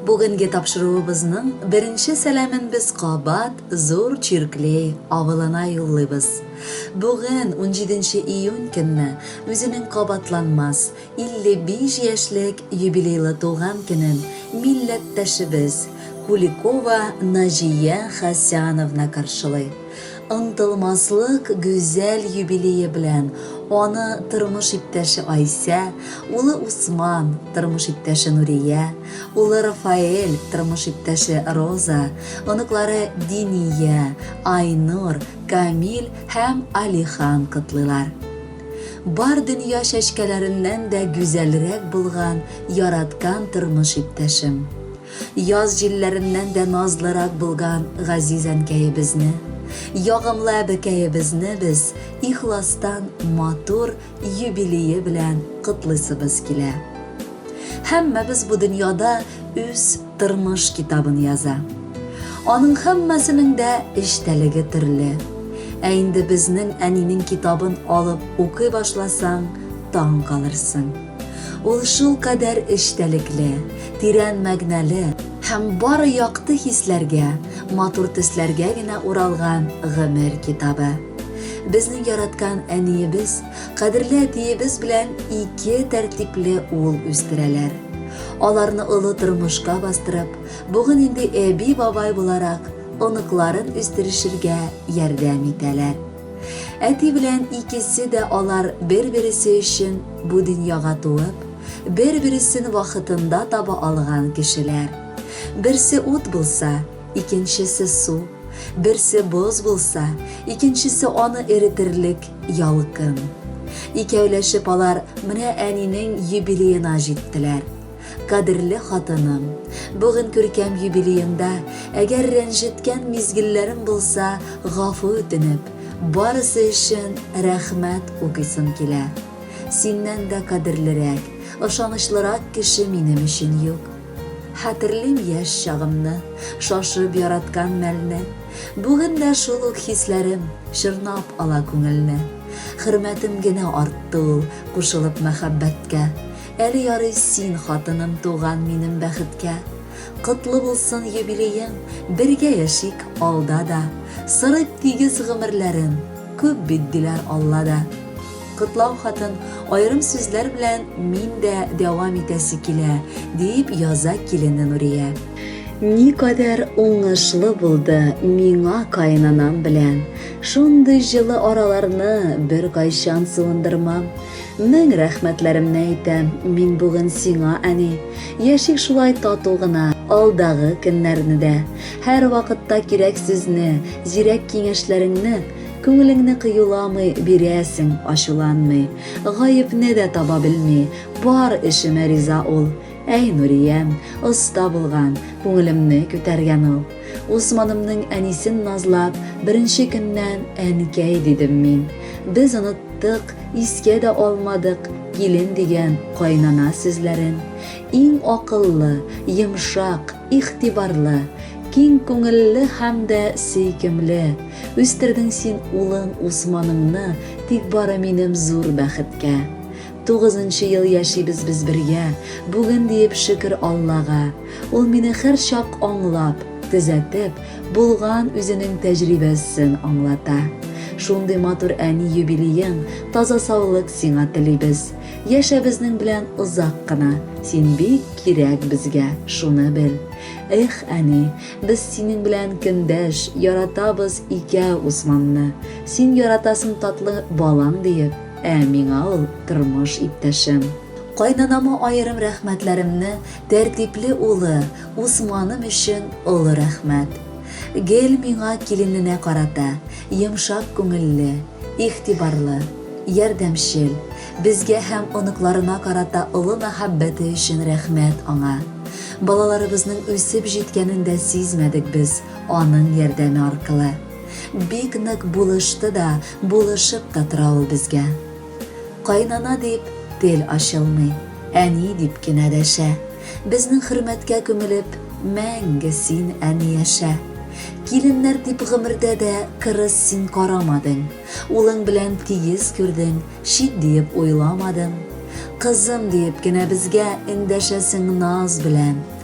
Бүгенге тапшыруыбызның беренче сәламен без кабат Зур Чирклей авылына юллыйбыз. Бүген, 17 июнь көнне, үзенең кабатланмас 55 яшьлек юбилейлы туган көнен милләттәшебез Куликова Наҗия Хәсяновна каршылый. Онытылмаслык гүзәл юбилее белән аны тормыш иптәше Айсә, улы Усман, тормыш иптәше Нурия, улы Рафаэль, тормыш иптәше Роза, оныклары Диния, Айнур, Камил һәм Алихан котлыйлар. Бар дөнья чәчкәләреннән дә гүзәлрәк булган яраткан тормыш иптәшем! Яз җилләреннән дә назлырак булган газиз әнкәебезне, ягымлы әбекәебезне без ихластан матур юбилее белән котлыйсыбыз килә. Һәммәбез бу дөньяда үз тормыш китабын яза. Аның һәммәсенең дә эчтәлеге төрле. Ә инде безнең әнинең китабын алып укый башласаң, таң калырсың. Ул шулкадәр эчтәлекле, тирән мәгънәле һәм бары якты хисләргә, матур төсләргә генә уралган гомер китабы. Безнең яраткан әниебез, кадерле әтиебез белән ике тәртипле ул үстерәләр. Аларны олы тормышка бастырып, бүген инде әби-бабай буларак оныкларын үстерешергә ярдәм итәләр. Әти белән икесе дә алар бер-бересе өчен бу дөньяга туып, бер-бересен вакытында таба алган кешеләр. Берсе ут булса, икенчесе су, берсе боз булса, икенчесе аны эретерлек ялкын. Икәүләшеп алар менә әнинең юбилеена җиттеләр. Кадерле хатыным, бүген күркәм юбилееңда, әгәр рәнҗеткән мизгелләрем булса, гафу үтенеп, барысы өчен рәхмәт укыйсым килә. Синнән дә кадерлерәк, ышанычлырак кеше минем өчен юк. Хәтерлим яшь чагымны, шашып яраткан мәлне. Бүген дә шул ук хисләрем чорнап ала күңелне. Хөрмәтем генә артты ул, кушылып мәхәббәткә. Әле ярый син хатыным туган минем бәхеткә Котлы булсын юбилеең, бергә яшик алда да Сырыйп тигез гомерләрен, күп бит диләр Алла да Котлау хатын аерым сүзләр белән мин дә дәвам итәсе килә, дип яза килене Нурия. Никадәр уңышлы булды миңа каенанам белән, шундый җылы араларны беркайчан суындырмам. Мең рәхмәтләремне әйтәм мин бүген сиңа, әни. Яшик шулай тату гына, алдагы көннәрне дә. Һәрвакытта кирәк сүзне, зирәк киңәшләреңне, күңелеңне кыюламый бирәсең, ачуланмый. Гаепне дә таба белми, бар эшемә риза ул. Әй, Нуриям, оста булган, күңелемне күтәргән ул. Усманымның әнисен назлап, беренче көннән әнкәй дидем мин. Без оныттык, искә дә алмадык килен дигән кайнана сүзләрен. Иң акыллы, йомшак, игътибарлы, киң күңелле һәм дә сөйкемле. Үстердең син улың Усманыңны, тик бары минем зур бәхеткә. Тугызынчы ел яшибез без бергә, Бүген диеп шөкер Аллага. Ул мине херчак аңлап, төзәтеп, Булган үзенең тәҗрибәссен аңлата. Шундый матур әни юбилеең, Таза саулык сиңа телибез. Яшә безнең белән озак кына, Син бик кирәк безгә, шуны бел. Эх, әни, без синең белән көндәш, Яратабыз икәү Усманны. Син яратасың татлы балаң диеп, Ә миңа ул тормыш иптәшем. Кайнанама аерым рәхмәтләремне, тәртипле улы, Усманым өчен олы рәхмәт. Гел миңа килененә карата, йомшак күңелле, игътибарлы, ярдәмчел, безгә һәм оныкларына карата олы мәхәббәте өчен рәхмәт аңа. Балаларыбызның үсеп җиткәнен дә сизмәдек без аның ярдәме аркылы. Бик нык булышты да, Булышып та тора ул безгә. Кайнана дип тел ачылмый, әни дип кенә дәшә. Безнең хөрмәткә күмелеп, мәңге син, әни, яшә. Киленнәр дип гомердә дә кырыс син карамадың. Улың белән тигез күрдең, чит диеп уйламадың. Кызым диеп кенә безгә эндәшәсең наз белән.